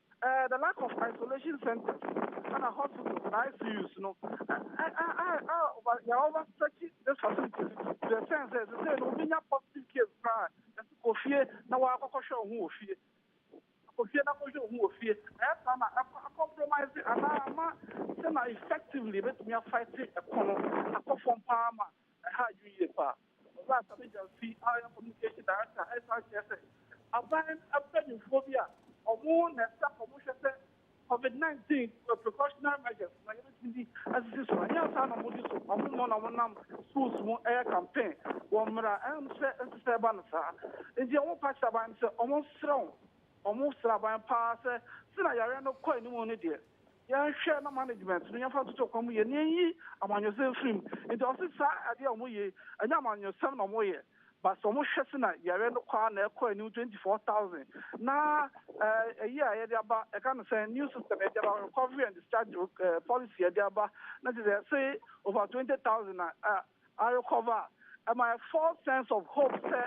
Eh, the lack of isolation centers ɛna hospitals na ICUs no a yɛn over stretch this facilities to the sense sɛ sɛ no obi nya positive case koraa ɛsɛ kɔ fie na wɔakɔkɔhwɛ wo ho wɔ fie kɔ fie na kɔhwɛ wo ho wɔ fie ɛyɛ saa na compromise anaa ama sɛ na effectively ɛbɛtumi afight ɛko no akɔ fam paa ma Ɛha adwene yie paa. Owura Sabi Gyamfi a ɔyɛ Communication Director san kyerɛ sɛ, aban mpanyimfoɔ bi a wɔn na ɛsɛ sɛ wɔhwɛ sɛ Covid nineteen precautionary measures na yɛbɛtumi asisi so no, ɛnyɛ saa na wɔdi so. Wɔn mmom na wɔnam schools mu yɛ campaign wɔ mmara a ɛnsɛ nso sɛ ɛba no saa. Enti wɔpa kyerɛ aban no sɛ wɔnsrɛ wɔn. Wɔsrɛ aban paa sɛ, sɛnea yareɛ no rekɔ anim no deɛ, Yɛnhwɛ na management no yɛmfa ntoto kwan mu yie na yɛnyi amanyɔsɛm mfiri mu. Nti ɔse saa adeɛ a wɔyɛ yi ɛnyɛ amanyɔsɛm na wɔyɛ but wɔhwɛ sɛ na yareɛ no kɔ ara na ɛkɔ anim twenty four thousand na ɛyi a yɛde aba ɛka no sɛn new system yɛde aba recovery and discharge policy yɛde aba na kyerɛ sɛ yɛse over twenty thousand na I recover and my false sense of hope sɛ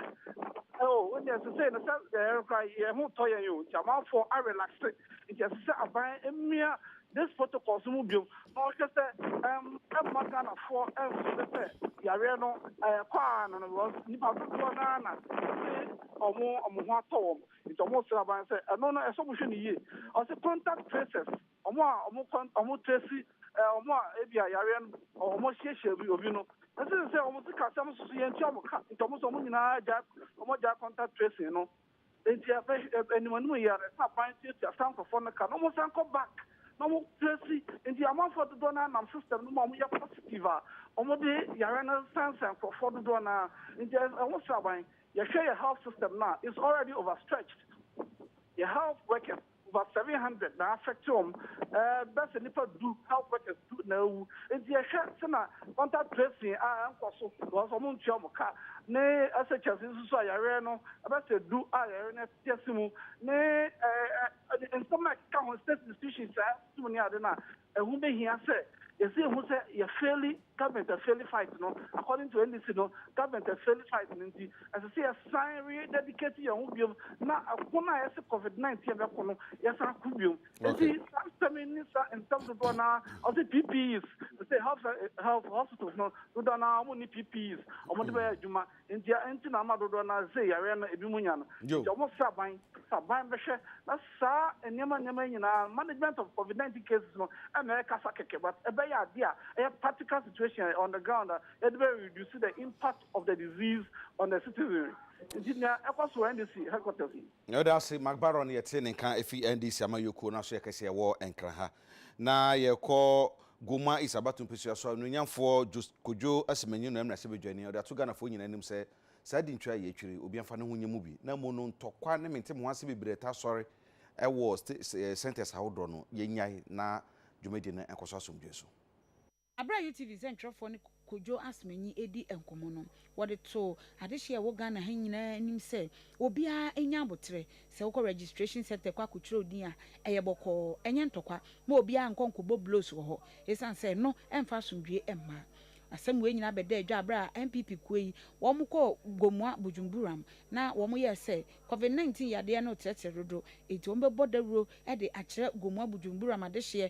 oh wo deɛ sesei no sɛ yɛn kora yɛn ho tɔ yɛn o nti amanfoɔ a relaxe nti ɛsɛ sɛ aban mmia this protocols no mu biom na wɔhwɛ sɛ ɛm ɛmma Ghanafoɔ ɛmfeele sɛ yareɛ no ɛɛkɔ ara no no because nnipa dodoɔ no ara na ɛse wɔn wɔn ho atɔ wɔn nti wɔresrɛ aban sɛ ɛno no ɛsɛ sɛ wɔhwɛ no yie ɔse contact tracers. Wɔn a wɔkɔ wɔtase wɔn a ebia yareɛ no wɔhyiahyia bi obi no ɛsene sɛ wɔn sikasɛm nso so yɛntua wɔn ka nti wɔn nso wɔn nyinaa gyae wɔn agyae contact tracing no nti anim anim yɛ no ɛsɛ aban tuatua saa nkurɔfoɔ no ka na wɔn san kɔ back na wɔn trace nti amanfoɔ dodoɔ no anam system no mu a wɔn yɛ positive a wɔn de yareɛ no sansan nkurɔfoɔ dodoɔ no a nti ɛho sraban yɛhwɛ yɛ health system no a it's already overstretched yɛ health workers. Over seven hundred na affect wɔn, bɛ sɛ nipa du, health workers du na awu. Nti yɛhwɛ sɛ na contact tracing a ɛnkɔ so because wɔn ntua wɔn ka ne SHS nso so a yareɛ no bɛ sɛ du a yareɛ no ɛte ase mu ne ɛɛ nsɛm no a ɛkeka ho state institutions a ɛsom ne ade no a ɛho bɛ hia sɛ yɛsi ehu sɛ yɛ fairly Government a faili fight no, according to NDC no, government a faili fight no nti, ɛsɛ sɛ yɛsan re dedicate yɛn ho biom na ɛko no a yɛse covid nineteen yɛbɛko no yɛsan ko biom. Nti saa nsɛm yi ne saa nsɛm dodoɔ no ara a wɔse PPEs, te sɛ health health hospitals no dodoɔ no ara wɔn nni PPEs wɔn de bɛyɛ adwuma. Ntia nti na ama dodoɔ no ara se yareɛ no ebinom nya no. Nti wɔn firi aban na aban bɛhwɛ na saa nneɛma nneɛma yi nyinaa management of covid 19 cases no ɛna ɛkasa kɛkɛ but ɛbɛyɛ adeɛ a ɛyɛ practical situation on the ground a yɛde bɛ reduce the impact of the disease on the citizenry. Nti nea ɛkɔ so wɔ NDC headquarters no. Yɛda ase, McBaron, yɛtee ne nka ɛfiri NDC amanyɔkuo no aso, yɛ kɛseɛ wɔ Nkran ha. Na yɛrekɔ Goma East Abato Mpesua so a, Onuonyamfoɔ Jos Kodwo Asemanyi no mmarahyɛ badwani a ɔde ato Ghanafoɔ nyinaa anim sɛ, saa dintwa a yɛretwiri, obiara mfa ne ho nyɛ mu bi, na mmom no ntɔkwa ne mente me ho ase bebree a ɛtaa sɔre wɔ centres ahodoɔ no, yɛnnyae na dwumadie no nkɔ so asomdwoeɛ so. Bere a UTV nsɛntwerɛfoɔ ne Kojo Asemanyi redi nkɔmmɔ no, wɔde too adehyeɛ a ɛwɔ Ghana ha nyinaa anim sɛ obiara nya aboterɛ. Sɛ wokɔ registration centre kɔ akɔtwerɛ wo din a, ɛyɛ bɔkɔɔ. Ɛnyɛ ntɔkwa. Ma obiara nkɔ nkɔbɔ blows wɔ hɔ ɛsiane sɛ ɛno mfa asomdwoeɛ mma. Asɛm wei nyinaa bɛdaa dwa bere a NPP kuo yi wɔkɔɔ Gomoa Bujumburam na wɔyɛɛ sɛ Covid 19 yadeɛ no retrɛtrɛ dodo enti wɔbɛbɔ dawuro de akyerɛ Gomoa Bujumburam adehyeɛ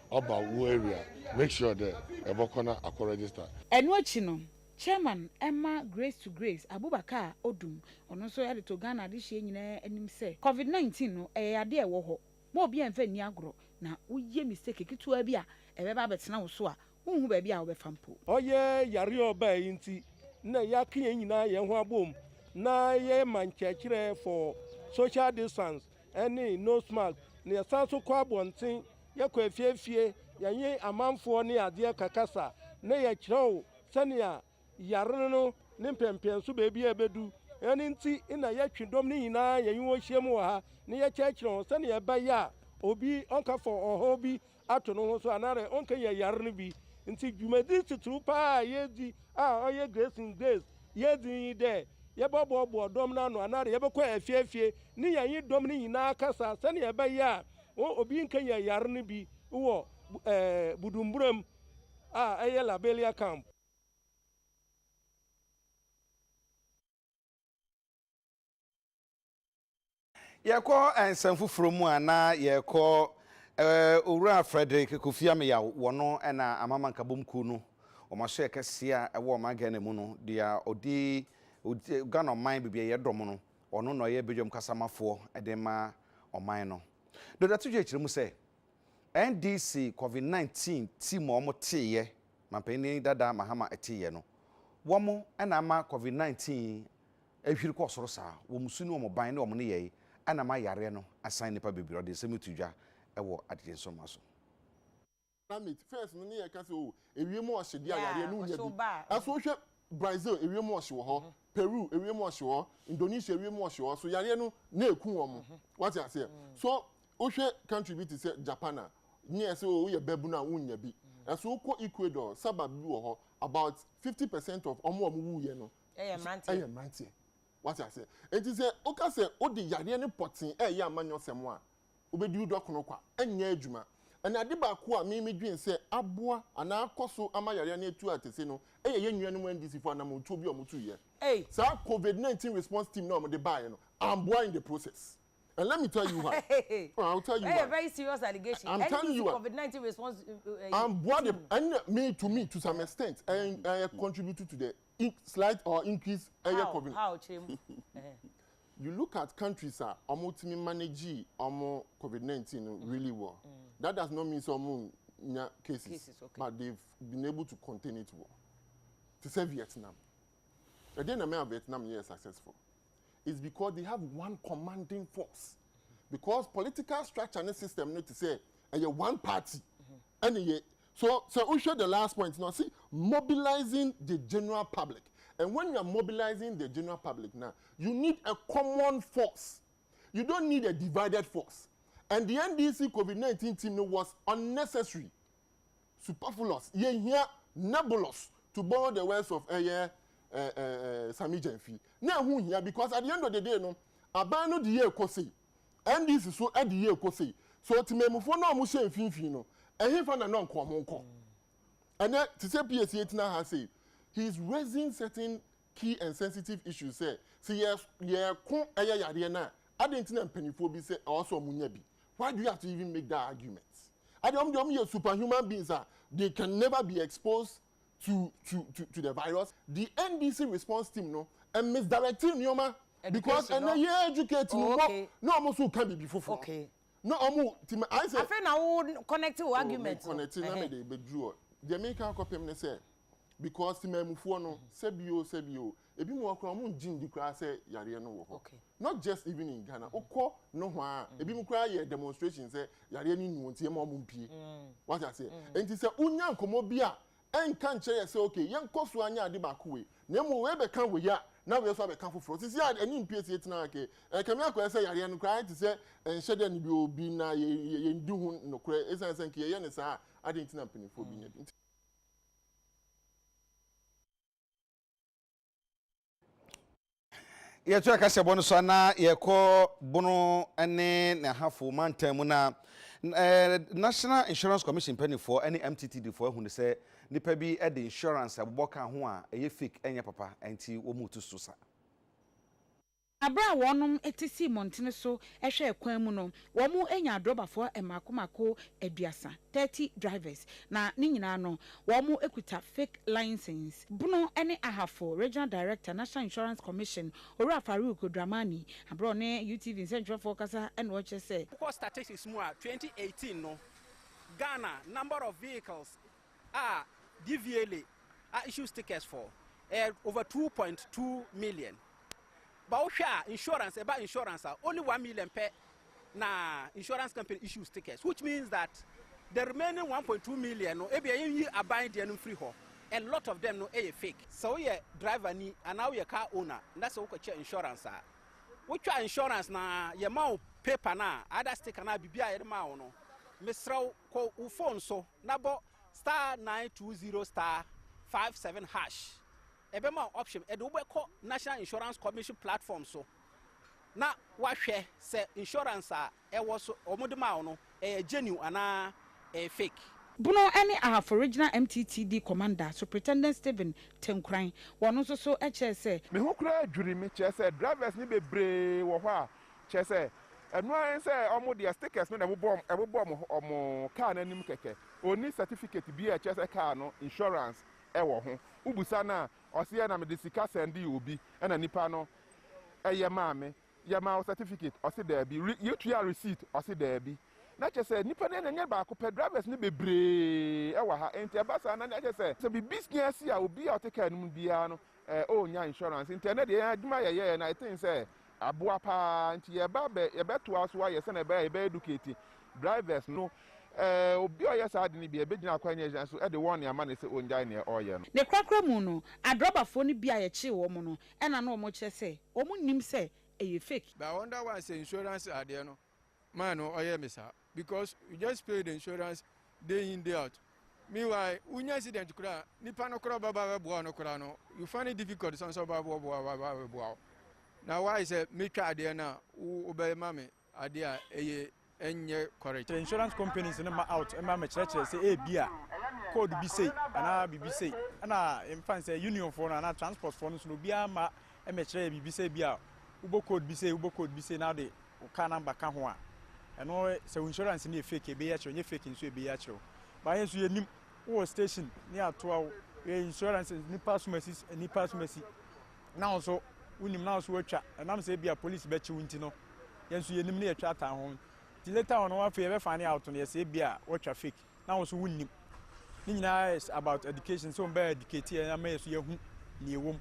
Ɔba wo area a, make sure dɛ ebɔkɔ na akɔ register. Ɛno akyi no, Chairman ma Grace to Grace Abubakar Odum, ɔno nso de too Ghana adehyeɛ nyinaa anim sɛ, Covid 19 no, ɛyɛ yadeɛ a ɛwɔ hɔ, mma obiara mfa nni agorɔ, na woyɛ mistake ketewaa bi a, ɛbɛba abɛtena wo so a, wonhu baabi a wobɛfa mpo. Ɔyɛ yareɛ a ɔbaeɛ yi nti na yɛaka yɛn nyinaa yɛn ho abom na yɛma nkyerɛkyerɛ for social distance ne nose mask, na yɛsan nso kɔ abɔnten yɛkɔ afie afie, yɛnye amanfoɔ ne adeɛ kakasa, na yɛkyerɛw sɛnea yare no ne mpɛmpɛnso baabi a ebedu. Ɛno nti na yɛtwe dɔm no nyinaa yɛnye wɔn hyiam wɔ ha na yɛkyerɛkyerɛ wɔn sɛnea ɛbɛyɛ a obi ɔnkafa ɔhaw bi ato ne ho so anaadɛ ɔnkanya yare no bi. Nti dwumadi titiriw paa a yɛredzi a ɔyɛ Grace in Grace yɛredzi no nye dɛ yɛbɔboaboa dɔm no ano anaadɛ yɛbɛkɔ afie afie ne yɛnye dɔm no nyinaa akasa sɛnea ɛbɛyɛ a Wɔn obi nkanyan yare no bi wɔ ɛɛ Budumburam a ɛyɛ Labelia Camp. Yɛkɔ nsɛm foforɔ mu a na yɛkɔ eh, Owura Frederick Kofi Ameyaw wɔno ɛna Amama Nkabom kuo no wɔn asoɛ kɛseɛ a ɛwɔ ɔman Ghana mu no deɛ ɔdi Ghana ɔman baabi a yɛdɔm no Ɔno na ɔyɛ badwam kasamafoɔ de ma ɔman no. Dɔda Tugyei kyerɛ mu sɛ, NDC Covid 19 ti ma wɔn teeɛ, Manpanin Dada Mahama teeɛ no, wɔn na ama Covid 19 yi ahwiri kɔɔ soro saa, wɔn su ne wɔn ban ne wɔn nneyɛe na ama yareɛ no asan nnipa bebree, ɔde nsɛm yi too dwa wɔ adegyensoma so. na mate first no ne yɛka sɛ oh ewiem ɔhye deɛ ayareɛ no wonya bi nanso wohwɛ Brazil ewiem ɔhye wɔ hɔ Peru ewiem ɔhye wɔ hɔ Indonesia ewiem ɔhye wɔ hɔ so yareɛ no na ɛku wɔn wate aseɛ so wohwɛ country bi te sɛ Japan a ne yɛ sɛ oh woyɛ babunu a wonnya bi ɛso wokɔ Ecuador suburb bi wɔ hɔ about fifty percent of wɔn a wɔwuiɛ no ɛyɛ mmeranteɛ wate aseɛ enti sɛ woka sɛ wode yareɛ no pɔtee ɛreyɛ amanyɔsɛm a. wobedi wo dɔkono kwa, nyɛ adwuma. Ɛnna ade baako a me midwen sɛ aboa anaa akɔ so ama yare ani atu akɛse no yɛ yɛn nuanom NDCfo anammɔntuo bi a wɔtuiɛ. Saa Covid nineteen Response Team no a wɔde baeɛ no ammoa in the process. And let me tell you why. Oh, I will tell you why. Ɛyɛ very serious allegation. I'm telling you why. Covid nineteen response team. Amboa de ɛnna me to me to some extent ɛyɛ contribute to the slight or increase ɛyɛ Covid. How how kyerɛ mu. You look at countries a ɔmo tumi manegee ɔmo covid nineteen no really well that does not mean sɛ ɔmo nya cases but they been able to contain it well te sɛ Vietnam ɛdeɛn na mɛma Vietnam yɛɛ successful is because they have one commanding force because political structure ne system no te sɛ ɛyɛ one party. ɛne yɛ so sɛ wohwɛ the last point no ɔse mobilizing the general public and when you are mobilizing the general public na you need a common force you don't need a divided force and the NDC COVID-19 team no was unnecessary superfluous yɛhia nebulous to borrow the words of ɛyɛ eh, eh, eh, eh, Sami Gyamfi na ɛho hia because at the end of the day no aban no de yɛ ɛkɔ sei NDC so adi yie kɔ sei. So temanmufoɔ no a wɔhyɛ mfimfini no, ɛhefa na na nka wɔn kɔ? Ɛnɛ te sɛ PAC atena ha sei, he is raising certain key and sensitive issues sɛ, sɛ yɛ yɛko ɛyɛ yareɛ no a, adɛn nti na mpanimfoɔ bi sɛ ɛwɔ sɛ wɔnya bi? Why do you have to even make that argument? Adeɛ wɔn deɛ wɔn yɛ superhuman beings a they can never be exposed to to to to the virus the NDC response team no misdirect nneɛma because ɛnɛ yɛ educate mu bɔ na wɔn nso ka biribi foforɔ na wɔn ti ma ayɛ sɛ. afei na wo connect wo oh, argument no connect na mi de bɛ duru deɛ mi ka akɔpem ne sɛ because temamufoɔ no sɛbi o sɛbi o ebi mu ɔkora wɔn ngyi ndi koraa sɛ yareɛ no wɔ hɔ. Okay. not just even in Ghana wokɔ nohoa a mm. ebinom koraa yɛ demonstration sɛ yareɛ no nnuo nti ɛma ɔmo mpie mm. wate aseɛ mm. nti sɛ wonya nkɔmmɔ bi a ɛnka nkyerɛ yɛ sɛ okay yɛnkɔ so anya ade baako wei na emu wei bɛka wei a na wei nso abɛka foforɔ sisi a ɛne mpie si tena ake ɛkɛmɛ akɔyɛ sɛ yareɛ no koraa te sɛ ɛnhyɛ dɛ no bi obi na yɛn di ho nokorɛ esan sɛ nka yɛyɛ ne saa ade ntina mpanyinfoɔ bi nya bi. yɛto ɛka sɛ bɔ no so a na yɛkɔ bono ne n'ahafo mantam mu na national insurance commission mpanimfoɔ ne mttd foɔ ahu no sɛ nipa bi de insurance abobɔ ka ho a ɛyɛ fake ɛnyɛ papa ɛnti wɔn mu tu so sa. Bere a wɔnom te sii mmɔntene so hwɛɛ kwan mu no, wɔnyaa drɔbafoɔ mmaako mmaako aduasa, thirty drivers, na ne nyinaa no, wɔkuta fake license. Bono ne Ahafo Regional Director, National Insurance Commission, Owura Farouk Dramani, bere a ɔne UTV nsɛntwerɛfoɔ rekasa na ɔrekyerɛ sɛ, Wokɔ statistics mu a, twenty eighteen no, Ghana number of vehicles a Diviele a issue stickers for ɛyɛ over two point two million ba wohwɛ a insurance ɛba insurance a only one million pɛ na insurance company issue stickers which means that the remaining one point two million no ebi ɛyɛ yi aban deɛ no mfiri hɔ a lot of them no ɛyɛ fake. sɛ woyɛ driver ni anaa woyɛ car owner na sɛ wokɔkyɛ insurance a wotwa insurance na yɛma wo paper no a ada sticker no a biribi a yɛde maa wo no mesrɛ wo kɔ wo phone so na bɔ star nine two zero star five seven hash ɛbɛma wo option ɛde wobɛkɔ national insurance commission platform so na wahwɛ sɛ insurance a ɛwɔ so wɔn de maa wo no ɛyɛ genuine anaa ɛyɛ fake. Bono ne Ahafo Regional MTTD Commander, Superintendent Stephen Tenkuran, wɔn nso so kyerɛɛ sɛ, Me ho koraa dwiri me, kyerɛ sɛ drivers no bebree wɔ hɔ a Kyerɛ sɛ, ɛno ara ne sɛ wɔn deɛ stickers no na ɛbobɔ wɔn ɛbobɔ wɔn wɔn car no anim kɛkɛ. Ɔnni certificate biara a ɛkyerɛ sɛ car no insurance wɔ ho. Wobisa no a, ɔse yɛ na mede sika sɛndee obi na nipa no yɛ maa me. Yɛmaa wo certificate? Ɔse daabi. Re yɛtuaa receipt? Ɔse daabi. Na kyerɛ sɛ, nipa no yɛ na ɛnyɛ baako pɛ, drivers no bebree wɔ ha. Enti ɛba saa na na kyerɛ sɛ, sɛ biribi si a obi a ɔte car no mu biara no Eh oh nya insurance nti ɛnɛ deɛ yɛn adwuma yɛyɛɛ na ɛten sɛ aboa paa nti yɛba bɛ yɛbɛtoa so ayɛ sɛnɛ ɛbɛyɛ yɛbɛ educate drivers no eh obi a ɔyɛ saa ade no bi a yɛbɛgyina akwan nyɛ gyina so de wɔn ne ama no sɛ ɔngyae neɛ ɔreyɛ no. Ne korakora mu no adrɔbafoɔ no bi a yɛkyee wɔn no na na wɔkyerɛ sɛ wɔn nnim sɛ ɛyɛ fake. But I wonder why sɛ insurance adeɛ no man no ɔyɛ me saa because you just pay the insurance day in day out meanwhile wonya accident koraa nipa no koraa ɔbɛba bɛboa no koraa no you find it difficult sɛ ɔsɛ ɔba boaboa ɔba bɛboa wo na why sɛ metwa adeɛ no a wobɛma me adeɛ a ɛyɛ ɛnyɛ correct. insurance companies no ma out ma mekyerɛkyerɛ sɛ ebi a code bi sei anaa biribi sei ɛna mfa n sɛ unionfoɔ no anaa transportfoɔ no so no obiara ma mekyerɛ yɛ biribi sɛ ebia wobɔ code bi sei wobɔ code bi sei na wode wo car number ka ho a ɛno sɛ wo insurance no yɛ fake ebeyi akyerɛ wo nyɛ fake nso ebeyi akyerɛ wo baayɛ nso yɛnim wowɔ station ne atoa wo yɛ insurance nipa asomasi nipa asomasi na wo nso wonim na wo nso watwa ɛnam sɛ ebia police bɛkye wo nti no yɛn nso yɛnim ne yɛtwa atan ho nti later on no afei yɛbɛfa ne out no yɛsɛ ebia watwa fake na wo nso wonnim ne nyinaa is about education sɛ wɔn bɛyɛ educate yɛn ama yɛn so yɛhu nea ɛwɔ mu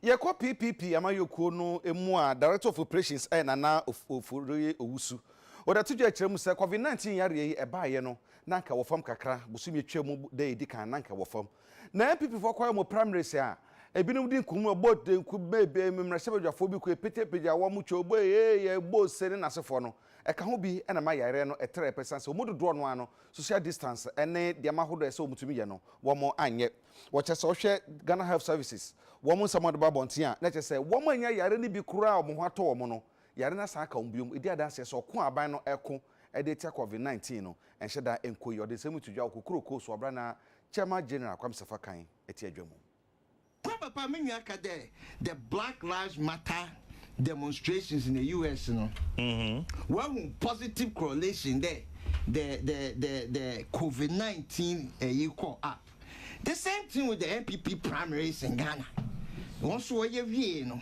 Yɛkɔ PPP amanyɔkuo no mu a, Director of Operations yɛ Nana Ofori Owusu. Ɔde ato dwa kyerɛ mu sɛ, Covid 19 yareɛ yi ɛbaeɛ no, na anka ɛwɔ fam kakra, bosome a ɛtwaam da a ɛdi kan na anka ɛwɔ fam. Na NPP foɔ kɔyɛ wɔn primaries a, ɛbinom di nkunim, ɛbɔ tanku, mmarahyɛbadwafoɔ bi kɔ, ɛpete pagya wɔn, twa obo, eeii, ɛbɔ ose ne n'asefoɔ no, ɛka ho bi na ɛma yareɛ no ɛtrɛɛ pa ɛsiane sɛ wɔn mu dodoɔ no ara no, social distance ne nneɛma ahodoɔ a ɛsɛ sɛ wɔtumi yɛ no, wɔn anyɛ. Wɔkyɛ sɛ wohwɛ Ghana Health Services, wɔn nsɛm a wɔde ba abɔnten a, na ɛkyerɛ sɛ wɔn a anya yare no bi koraa a wɔn ho atɔ wɔn no, yare no asan aka wɔn bio. Ɛdi adanseɛ sɛ ɔko a aban no reko de atia Covid nineteen no, ɛnhyɛ da nkɔ yie. Ɔde nsɛm yi to dwa wɔ Kokuroo Coast wɔ berɛ a na Chairman General Kwame Sefa kan te adwa mu. Kɔ papa me nua ka dɛ the black lives matter demonstrations na US no wahu positive correlation dɛ the the the the covid 19 ɛyi kɔ up the same thing with the NPP primaries in Ghana wɔn so wɔyɛ wiee no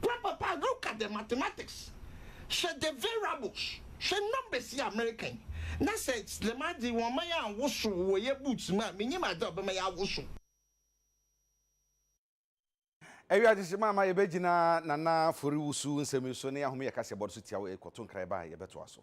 Bra papa look at the mathematics hwɛ the variables hwɛ numbers yi a mereka yi na sɛ dɛm ade yi wɔmma yɛ anwosow wɔ yɛ boots mu a menyim adze a ɔbɛma yɛawosow. Ewiadze hyehye ma ama yebegyina Nana Foriwusu nsɛm yi so na yɛahom yɛ kaseɛbɔ no so tsia wo. Ekɔto nkra yi baa a yɛbɛtoa so.